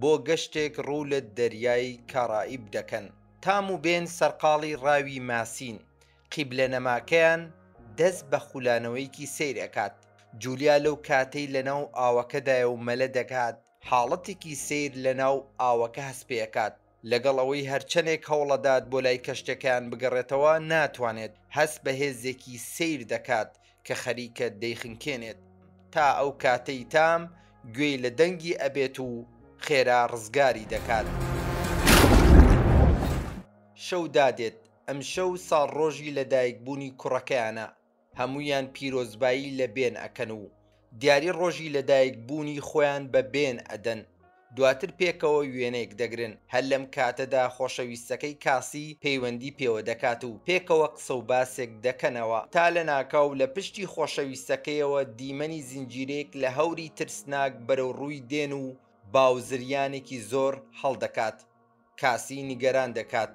بۆ گەشتێک ڕوو لە دەریای کارائیب دەکەن، تام و بێن سەرقاڵی ڕاوی ماسین، قیبلە نەماکەیان دەست بە خولانەوەیەکی سەیر ئەکات، جولیا لەو کاتەی لەناو ئاوەکەدایە و مەلە دەکات، حاڵەتێکی سەیر لەناو ئاوەکە هەست پێ ئەکات، لەگەڵ ئەوەی هەرچەنێک هەوڵەدات بۆ لای کەشتیەکەیان بگەڕێتەوە ناتوانێت، هەست بە هێزێکی سەیر دەکات کە خەریکە دەیخنکێنێت تا ئەو کاتەی تام گوێی لە دەنگی ئەبێت و خێرا ڕزگاری دەکات. شەو دادێت، ئەمشەو ساڵڕۆژی لەدایکبوونی کوڕەکەیانە، هەموویان پیرۆزبایی لە بێن ئەکەن و دیاری ڕۆژی لەدایک بوونی خۆیان بە بێن ئەدەن، دواتر پێکەوە وێنەیەک دەگرن، هەر لەم کاتەدا خۆشەویستەکەی کاسی پەیوەندی پێوە دەکات و پێکەوە قسە و باسێک دەکەنەوە، تا لەناکاو لە پشتی خۆشەویستەکەیەوە دیمەنی زنجیرەیەک لە هەوری ترسناک بەرەو ڕووی دێن و باو زریانێکی زۆر هەڵدەکات. کاسی نیگەران دەکات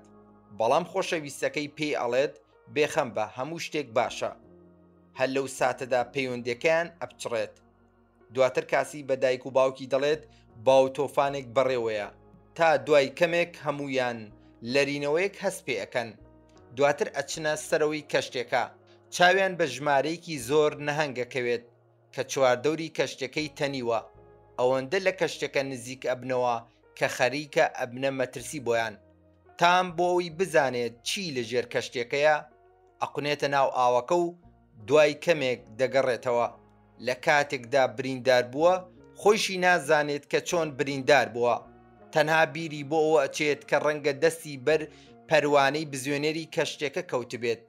بەڵام خۆشەویستەکەی پێی ئەڵێت بێخەم بە هەموو شتێک باشە هەر لەو ساتەدا پەیوەندەکەیان ئەپچڕێت دواتر کاسی بە دایک و باوکی دەڵێت باو تۆفانێک بەڕێوەیە تا دوای کەمێک هەموویان لەرینەوەیەک هەست پێ ئەکەن دواتر ئەچنە سەرەوەی کەشتێکە چاویان بە ژمارەیەکی زۆر نەهەنگ ئەکەوێت کە چواردەوری کەشتیەکەی تەنیوە ئەوەندە لە کەشتیەکە نزیک ئەبنەوە کە خەریکە ئەبنە مەترسی بۆیان، تام بۆ ئەوەی بزانێت چی لە ژێر کەشتیەکەیە ئەقونێتە ناو ئاوەکە و دوای کەمێک دەگەڕێتەوە لە کاتێکدا بریندار بووە خۆیشی نازانێت کە چۆن بریندار بووە تەنها بیری بۆ ئەوە ئەچێت کە ڕەنگە دەستی بەر پەروانەی بزوێنەری کەشتیەکە کەوتبێت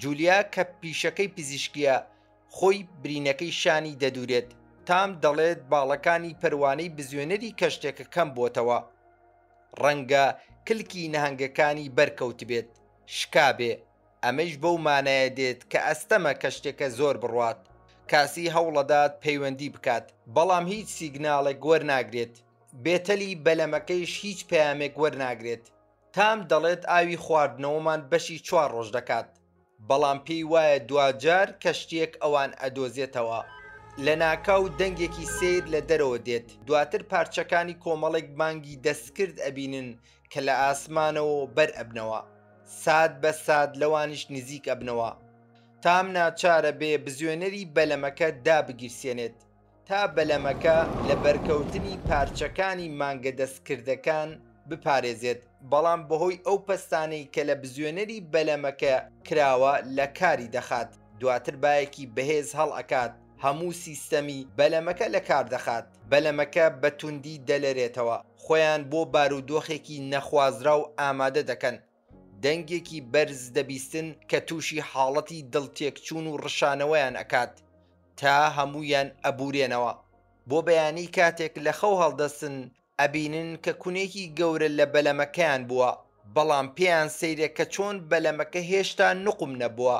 جولیا کە پیشەکەی پزیشکیە خۆی برینەکەی شانی دەدورێت تام دەڵێت باڵەکانی پەروانەی بزوێنەری کەشتێکە کەم بۆتەوە ڕەنگە کلکی نەهنگەکانی بەرکەوتبێت شکابێ ئەمەیش بەو مانایە دێت کە ئەستەمە کەشتێکە زۆر بڕوات کاسی هەوڵەدات پەیوەندی بکات بەڵام هیچ سیگناڵێک وەرناگرێت بێتەلی بەلەمەکەیش هیچ پەیامێک وەرناگرێت تام دەڵێت ئاوی خواردنەوەمان بەشی چوار ڕۆژ دەکات بەڵام پێی وایە دواجار کەشتییەک ئەوان ئەدۆزێتەوە. لەناکاو دەنگێکی سەیر لە دەرەوە دێت، دواتر پارچەکانی کۆمەڵێک بانگی دەستکرد ئەبینن کە لە ئاسمانەوە بەر ئەبنەوە، سات بە سات لەوانیش نزیک ئەبنەوە. تام ناچارە بێ بزوێنەری بەلەمەکە دابگیرسێنێت. تا بەلەمەکە لە بەرکەوتنی پارچەکانی مانگە دەستکردەکان بپارێزێت، بەڵام بەهۆی ئەو پەستانەی کە لە بزوێنەری بەلەمەکە کراوە لە کاری دەخات، دواتر بایەکی بەهێز هەڵئەکات هەموو سیستەمی بەلەمەکە لە کار دەخات، بەلەمەکە بە توندی دەلەرێتەوە، خۆیان بۆ بارودۆخێکی نەخوازراو ئامادە دەکەن، دەنگێکی بەرز دەبیستن کە تووشی حاڵەتی دڵتێکچوون و ڕشانەوەیان ئەکات تا هەموویان ئەبورێنەوە بۆ بەیانی کاتێک لە خەو هەڵدەستن ئەبینن کە کونێکی گەورە لە بەلەمەکەیان بووە بەڵام پێیان سەیرە کە چۆن بەلەمەکە هێشتا نقم نەبووە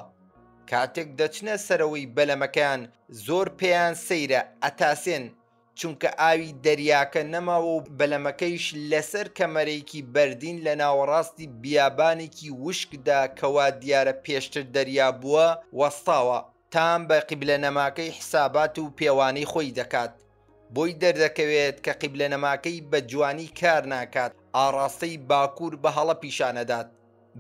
کاتێک دەچنە سەرەوەی بەلەمەکەیان زۆر پێیان سەیرە ئەتاسێن چونکە ئاوی دەریاکە نەماوە و بەلەمەکەیش لەسەر کەمەرێکی بەردین لە ناوەڕاستی بیابانێکی وشکدا کە وا دیارە پێشتر دەریا بووە، وەستاوە. تام بە قیبلەنەماکەی حیسابات و پێوانەی خۆی دەکات. بۆی دەردەکەوێت کە قیبلەنەماکەی بە جوانی کار ناکات، ئاڕاستەی باکوور بە هەڵە پیشان ئەدات.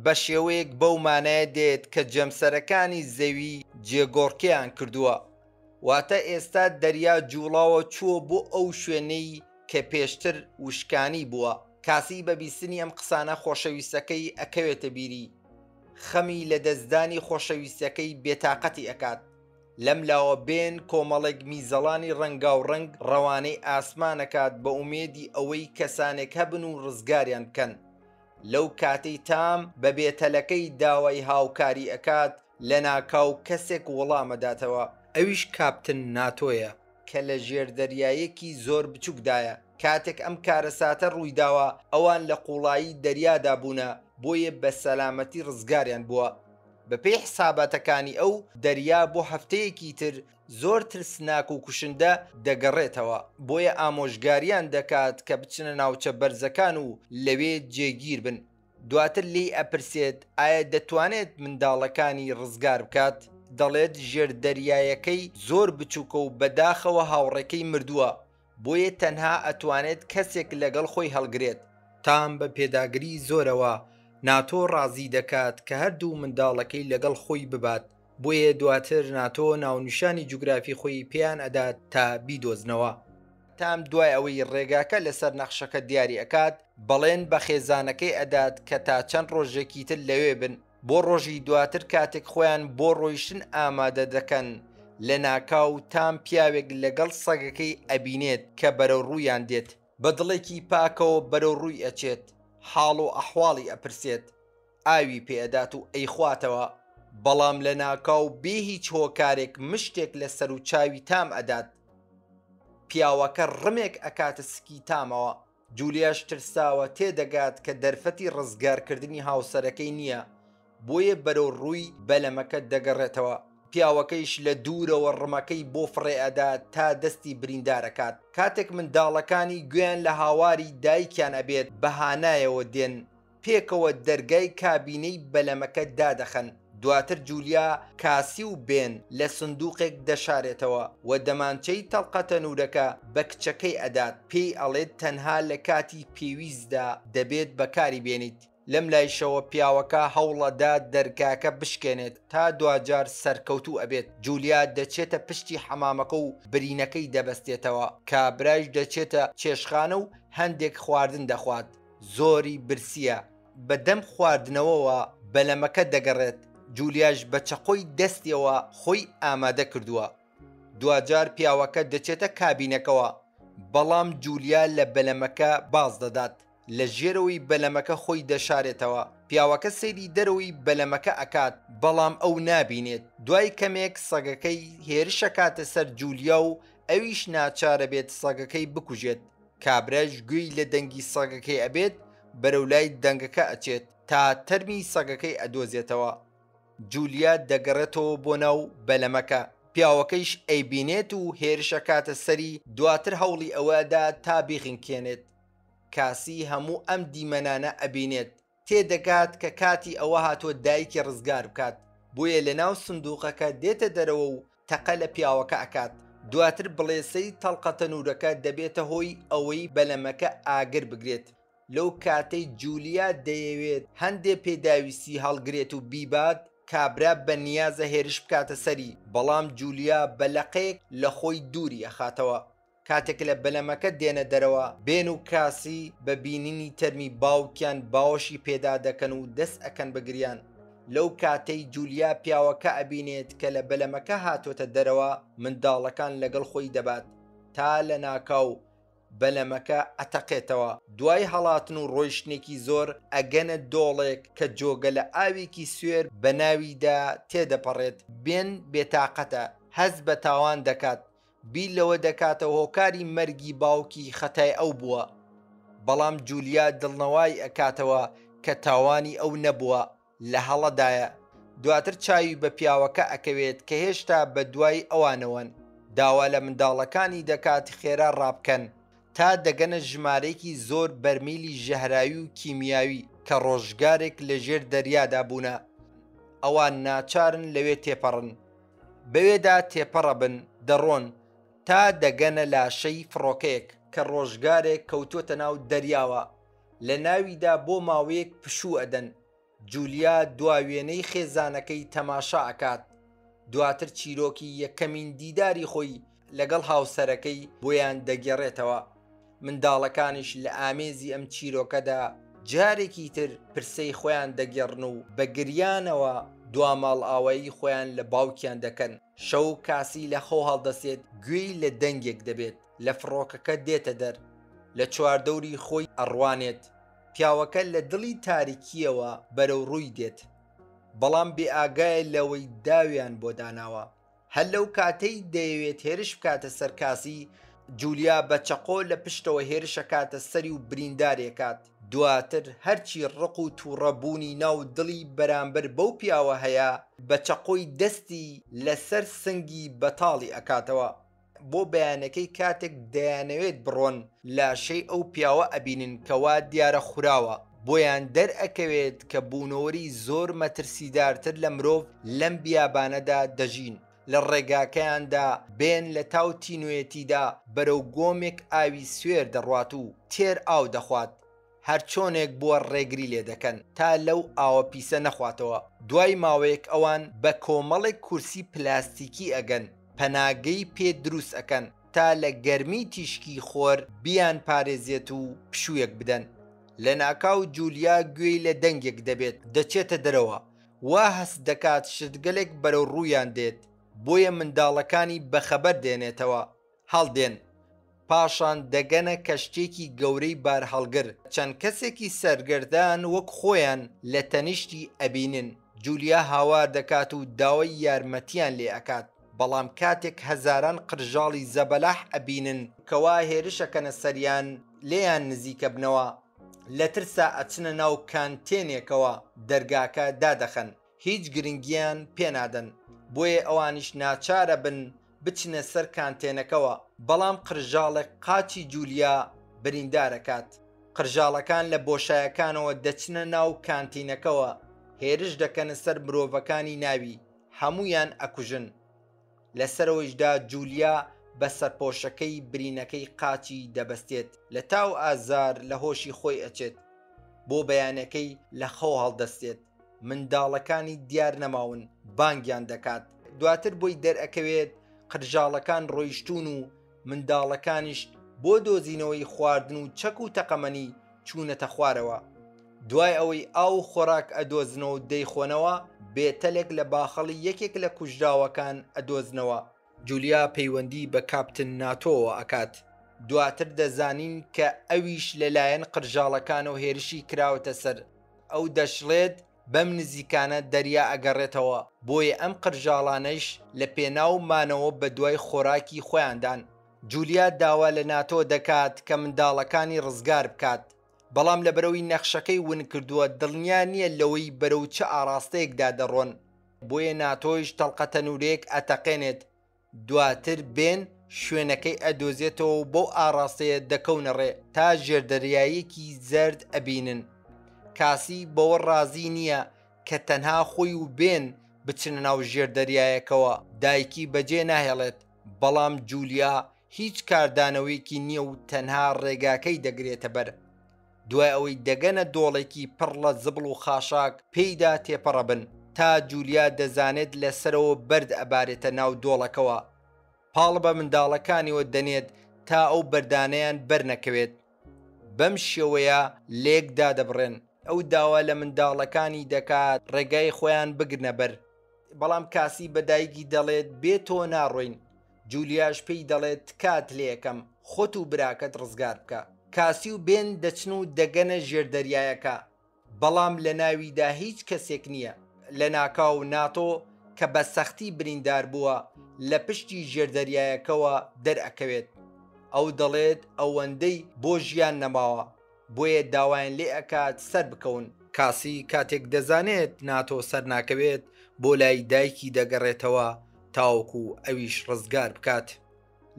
بە شێوەیەک بەو مانایە دێت کە جەمسەرەکانی زەوی جێگۆڕکێیان کردووە. واتە ئێستا دەریا جوڵاوە چووە بۆ ئەو شوێنەی کە پێشتر وشکانی بووە. کاسیی بە بیستنی ئەم قسانە خۆشەویستەکەی ئەکەوێتە بیری. خەمی لە دەستدانی خۆشەویستەکەی بێتاقەتی ئەکات. لەم لاوە بێن کۆمەڵێک میزەڵانی ڕەنگاو ڕەنگ ڕەوانەی ئاسمان ئەکات بە ئومێدی ئەوەی کەسانێک هەبن و ڕزگاریان بکەن. لەو کاتەی تام بە بێتەلەکەی داوای هاوکاری ئەکات، لەناکاو کەسێک وەڵامەداتەوە، ئەویش کاپتن ناتۆیە، کە لە ژێر دەریایەکی زۆر بچوکدایە کاتێک ئەم کارەساتە ڕوویداوە ئەوان لە قوڵایی دەریادا بوونە بۆیە بە سەلامەتی ڕزگاریان بووە بەپێی حساباتەکانی ئەو دەریا بۆ هەفتەیەکی تر زۆر ترسناک و کوشندە دەگەڕێتەوە بۆیە ئامۆژگاریان دەکات کە بچنە ناوچە بەرزەکان و لەوێ جێگیربن. دواتر لێی ئەپرسێت ئایا دەتوانێت منداڵەکانی ڕزگار بکات، دەڵێت ژێر دەریایەکەی زۆر بچوکە و بەداخەوە هاوڕێکەی مردووە، بۆیە تەنها ئەتوانێت کەسێک لەگەڵ خۆی هەڵگرێت. تام بە پێداگری زۆرەوە ناتۆ ڕازی دەکات کە هەردوو منداڵەکەی لەگەڵ خۆی ببات، بۆیە دواتر ناتۆ ناونیشانی جوگرافی خۆی پێیان ئەدات تا بیدۆزنەوە. تام دوای ئەوەی ڕێگاکە لەسەر نەخشەکە دیاری ئەکات بەڵێن بە خێزانەکەی ئەدات کە تا چەند ڕۆژێکی تر لەوێ بن بۆ ڕۆژی دواتر کاتێک خۆیان بۆ ڕۆیشتن ئامادە دەکەن لەناکاو تام پیاوێک لەگەڵ سەگەکەی ئەبینێت کە بەرەو ڕوویان دێت بە دڵێکی پاکەوە بەرەو ڕووی ئەچێت حاڵ و ئەحواڵی ئەپرسێت ئاوی پێ ئەدات و ئەیخواتەوە بەڵام لە ناکاو بێ هیچ هۆکارێک مشتێک لە سەرو چاوی تام ئەدات پیاوەکە ڕمێک ئەکاتە سکی تامەوە جولیاش ترساوە تێ دەگات کە دەرفەتی ڕزگارکردنی هاوسەرەکەی نییە بۆیە بەرەو ڕووی بەلەمەکە دەگەڕێتەوە پیاوەکەیش لە دوورەوە ڕمەکەی بۆ فڕێئەدا تا دەستی بریندارەکات کاتێک منداڵەکانی گوێیان لە هاواری دایکیان ئەبێت بەهانایەوە دێن پێکەوە دەرگای کابینەی بەلەمەکە دادەخەن، دواتر جولیا کاسی و بێن لە سندوقێک دەشارێتەوە و دەمانچەی تەڵقە تەنورەکە بە کچەکەی ئەدات، پێی ئەڵێت تەنها لە کاتی پێویستدا دەبێت بەکاری بێنیت، لەم لایشەوە پیاوەکە هەوڵەدا دەرگاکە بشکێنێت، تا دواجار سەرکەوتوو ئەبێت، جولیا دەچێتە پشتی حەمامەکە و برینەکەی دەبەستێتەوە، کابرایش دەچێتە چێشخانە و هەندێک خواردن دەخوات، زۆری برسییە، بە دەم خواردنەوەوە بەلەمەکە دەگەڕێت، جولیاش بە چەقۆی دەستیەوە خۆی ئامادە کردووە. دواجار پیاوەکە دەچێتە کابینەکەوە، بەڵام جولیا لە بەلەمەکە باز دەدات، لە ژێرەوەی بەلەمەکە خۆی دەشارێتەوە. پیاوەکە سەیری دەرەوەی بەلەمەکە ئەکات، بەڵام ئەو نابینێت. دوای کەمێک سەگەکەی هێرشەکاتە سەر جولیا و ئەویش ناچارەبێت سەگەکەی بکوژێت. کابرایش گوێی لە دەنگی سەگەکەی ئەبێت بەرەو لای دەنگەکە ئەچێت تا تەرمی سەگەکەی ئەدۆزێتەوە جولیا دەگەڕێتەوە بۆ ناو بەلەمەکە پیاوەکەیش ئەیبینێت و هێرشەکاتە سەری دواتر هەوڵی ئەوەدا تا بیغنکێنێت کاسی هەموو ئەم دیمەنانە ئەبینێت تێدەگات کە کاتی ئەوە هاتووە دایکی ڕزگار بکات، بۆیە لەناو سندووقەکە دێتە دەرەوە و تەقە لە پیاوەکە ئەکات، دواتر بڵێسەی تەڵقە تەنوورەکە دەبێتە هۆی ئەوەی بەلەمەکە ئاگر بگرێت، لەو کاتەی جولیا دەیەوێت هەندێ پێداویستی هەڵگرێت و بیبات، کابرا بەنیازە هێرش بکاتە سەری، بەڵام جولیا بە لەقێک لە خۆی دووری ئەخاتەوە. کاتێک لە بەلەمەکە دێنە دەرەوە، بێن و کاسی بە بینینی تەرمی باوکیان باوەشی پێدا دەکەن و دەست ئەکەن بە گریان. لەو کاتەی جولیا پیاوەکە ئەبینێت کە لە بەلەمەکە هاتۆتە دەرەوە منداڵەکان لەگەڵ خۆی دەبات تا لە ناکاو بەلەمەکە ئەتەقێتەوە. دوای هەڵاتن و ڕۆیشتنێکی زۆر ئەگەنە دۆڵێک کە جۆگە لە ئاوێکی سوێر بە ناویدا تێدەپەڕێت. بێن بێتاقەتە، هەست بە تاوان دەکات، بیر لەوە دەکاتە هۆکاری مەرگی باوکی خەتای ئەو بووە، بەڵام جولیا دڵنەوای ئەکاتەوە کە تاوانی ئەو نەبووە لە هەڵەدایە، دواتر چاوی بە پیاوەکە ئەکەوێت کە هێشتا بە دوای ئەوانەوەن، داوا لە منداڵەکانی دەکات خێرا ڕابکەن تا دەگەنە ژمارەیەکی زۆر بەرمیلی ژەهراوی و کیمیاوی کە ڕۆژگارێک لە ژێر دەریادا بوونە، ئەوان ناچارن لەوێ تێپەڕن. بەوێدا تێپەڕە بن دەڕۆن تا دەگەنە لاشەی فڕۆکەیەک کە ڕۆژگارێک کەوتووەتە ناو دەریاوە لە ناویدا بۆ ماوەیەک پشوو ئەدەن جولیا دوا وێنەی خێزانەکەی تەماشا ئەکات دواتر چیرۆکی یەکەمین دیداری خۆی لە لەگەڵ هاوسەرەکەی بۆیان دەگێڕێتەوە، منداڵەکانیش لە ئامێزی ئەم چیرۆکەدا جارێکی تر پرسەی خۆیان دەگێڕن و بە گریانەوە دوا ماڵئاوایی خۆیان لە باوکیان دەکەن، شەو کاسی لە خەو هەڵدەسێت گوێی لە دەنگێک دەبێت لە فڕۆکەکە دێتە دەر لە چواردەوری خۆی ئەڕوانێت، پیاوەکە لە دڵی تاریکییەوە بەرەو ڕووی دێت، بەڵام بێئاگایە لەوەی داویان بۆ داناوە. هەر لەو کاتەی دەیەوێت هێرش بکاتە سەر کاسی، جولیا بە چەقۆ لە پشتەوە هێرشەکاتە سەری و بریندارێکات، دواتر هەرچی ڕق و توڕە بوونی ناو دڵی بەرامبەر بەو پیاوە هەیە بە چەقۆی دەستی لەسەر سنگی بەتاڵی ئەکاتەوە. بۆ بەیانەکەی کاتێک دەیانەوێت بڕۆن لاشەی ئەو پیاوە ئەبینن کەوا دیارە خوراوە بۆیان دەرئەکەوێت کە بوونەوەری زۆر مەترسیدارتر لە مرۆڤ لەم بیابانەدا دەژین لە ڕێگاکەیاندا بێن لە تاو تینوێتیدا بەرەو گۆمێک ئاوی سوێر دەڕوات و تێر ئاو دەخوات هەرچۆنێک بووە ڕێگری لێ دەکەن تا لەو ئاوە پیسە نەخواتەوە، دوای ماوەیەک ئەوان بە کۆمەڵێک کورسی پلاستیکی ئەگەن پەناگەی پێ دروست ئەکەن تا لە گەرمی تیشکی خۆر بیان پارێزێت و پشوویەک بدەن، لەناکاو جولیا گوێی لە دەنگێک دەبێت دەچێتە دەرەوە وا هەست دەکات شتگەلێک بەرەو ڕوویان دێت بۆیە منداڵەکانی بەخەبەر دێنێتەوە، هەڵدێن، پاشان دەگەنە کەشتیێکی گەورەی بارهەڵگر، چەند کەسێکی سەرگەردان وەک خۆیان لە تەنیشتی ئەبینن، جولیا هاوار دەکات و داوای یارمەتیان لێ ئەکات، بەڵام کاتێک هەزاران قرژاڵی زەبەلاح ئەبینن، کەوا هێرش ئەکەنە سەریان لێیان نزیکەبنەوە، لە ترسا ئەچنە ناو کانتێنێکەوە دەرگاکە دادەخەن، هیچ گرنگیان پێنادەن بۆیە ئەوانیش ناچارە بن بچنە سەر کانتێنەکەوە بەڵام قرژاڵێک قاچی جولیا بریندارەکات قرژاڵەکان لە بۆشایەکانەوە دەچنە ناو کانتینەکەوە هێرش دەکەنە سەر مرۆڤەکانی ناوی هەموویان ئەکوژن لە سەرەوەیشدا جولیا بە سەرپۆشەکەی برینەکەی قاچی دەبەستێت لە تاو ئازار لە هۆشی خۆی ئەچێت بۆ بەیانەکەی لە خەو هەڵدەستێت منداڵەکانی دیار نەماون بانگیان دەکات دواتر بۆی دەرئەکەوێت قرژاڵەکان ڕۆیشتون و منداڵەکانیش بۆ دۆزینەوەی خواردن و چەک و تەقەمەنی چوونەتە خوارەوە دوای ئەوەی ئاو و خۆراک ئەدۆزنەوە و دەیخۆنەوە بێتەلێک لە باخەڵی یەکێک لە کوژراوەکان ئەدۆزنەوە جولیا پەیوەندی بە کاپتن ناتۆوە ئەکات، دواتر دەزانین کە ئەویش لەلایەن قرژاڵەکانەوە هێرشی کراوەتە سەر، ئەو دەشڵێت بەم نزیکانە دەریا ئەگەڕێتەوە، بۆیە ئەم قرژاڵانەیش لە پێناو مانەوە بەدوای خۆراکی خۆیاندان. جولیا داوا لە ناتۆ دەکات کە منداڵەکانی ڕزگار بکات، بەڵام لەبەرئەوەی نەخشەکەی ونکردووە دڵنیا نییە لەوەی بەرەو چ ئاڕاستەیەکدا دەڕۆن. بۆیە ناتۆیش تەڵقە تەنورەیەک ئەتەقێنێت دواتر بێن شوێنەکەی ئەدۆزێتەوە و بەو ئاڕاستەیە دەکەونە ڕێ تا ژێردەریایەکی زەرد ئەبینن کاسی بەوە ڕازی نییە کە تەنها خۆی و بێن بچنە ناو ژێردەریایەکەوە دایکی بەجێ ناهێڵێت بەڵام جولیا هیچ کاردانەوەیەکی نییە و تەنها ڕێگاکەی دەگرێتە بەر دوای ئەوەی دەگەنە دۆڵێکی پڕ لە زبڵ و خاشاک پێیدا تێپەڕە بن تا جولیا دەزانێت لە سەرەوە بەرد ئەبارێتە ناو دۆڵەکەوە پاڵ بە منداڵەکانیەوە دەنێت تا ئەو بەردانیان بەرنەکەوێت بەم شێوەیە لێک دادەبڕێن ئەو داوا لە منداڵەکانی دەکات ڕێگای خۆیان بگرنە بەر بەڵام کاسی بە دایکی دەڵێت بێ تۆ ناڕۆین جولیاش پێی دەڵێت تکات لێیەکەم خۆت و براکەت ڕزگار بکە کاسی و بێن دەچن و دەگەنە ژێر دەریایەکە بەڵام لە ناویدا هیچ کەسێک نییە لەناکاو ناتۆ کە بە سەختی بریندار بووە لە پشتی ژێر دەریایەکەوە دەرئەکەوێت ئەو دەڵێت ئەوەندەی بۆ ژیان نەماوە بۆیە داوایان لێ ئەکات سەربکەون. کاسی کاتێک دەزانێت ناتۆ سەرناکەوێت بۆ لای دایکی دەگەڕێتەوە تاوەکو ئەویش ڕزگار بکات.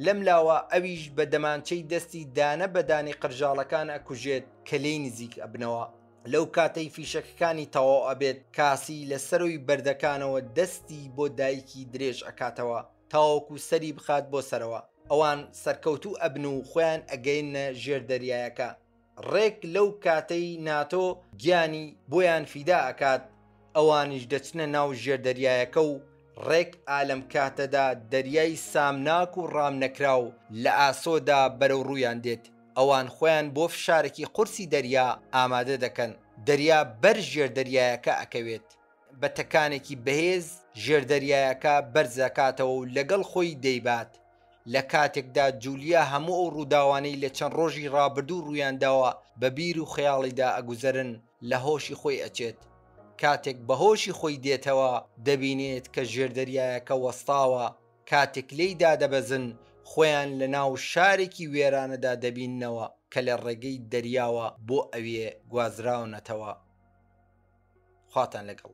لەم لاوە ئەویش بە دەمانچەی دەستی دانە بە دانی قرژاڵەکان ئەکوژێت کە لێی نزیک ئەبنەوە. لەو کاتەی فیشەکەکانی تەواو ئەبێت کاسی لە سەروی بەردەکانەوە دەستی بۆ دایکی درێژ ئەکاتەوە. تاوەکو سەری بخات بۆ سەرەوە ئەوان سەرکەوتوو ئەبن و خۆیان ئەگەیننە ژێر دەریایەکە ڕێک لەو کاتەی ناتۆ گیانی بۆیان فیدا ئەکات ئەوانیش دەچنە ناو ژێر دەریایەکە و ڕێک ئالەم کاتەدا دەریای سامناک و ڕامنەکراو لە ئاسۆدا بەرەو ڕوویان دێت ئەوان خۆیان بۆ فشارێکی قورسی دەریا ئامادە دەکەن دەریا بەر ژێر دەریایەکە ئەکەوێت. بە تەکانێکی بەهێز ژێردەریایەکە بەرزەکاتەوە و لەگەڵ خۆی دەیبات لە کاتێکدا جولیا هەموو ئەو ڕووداوانەی لە چەند ڕۆژی ڕابردوو ڕوویانداوە بە بیر و خەیاڵیدا ئەگوزەرن لە هۆشی خۆی ئەچێت کاتێک بەهۆشی خۆی دێتەوە دەبینێت کە ژێردەریایەکە وەستاوە کاتێک لێی دادەبەزن خۆیان لە ناو شارێکی وێرانەدا دەبیننەوە کە لە ڕێگەی دەریاوە بۆ ئەوێ گوازراونەتەوە. خواتان لەگەڵ.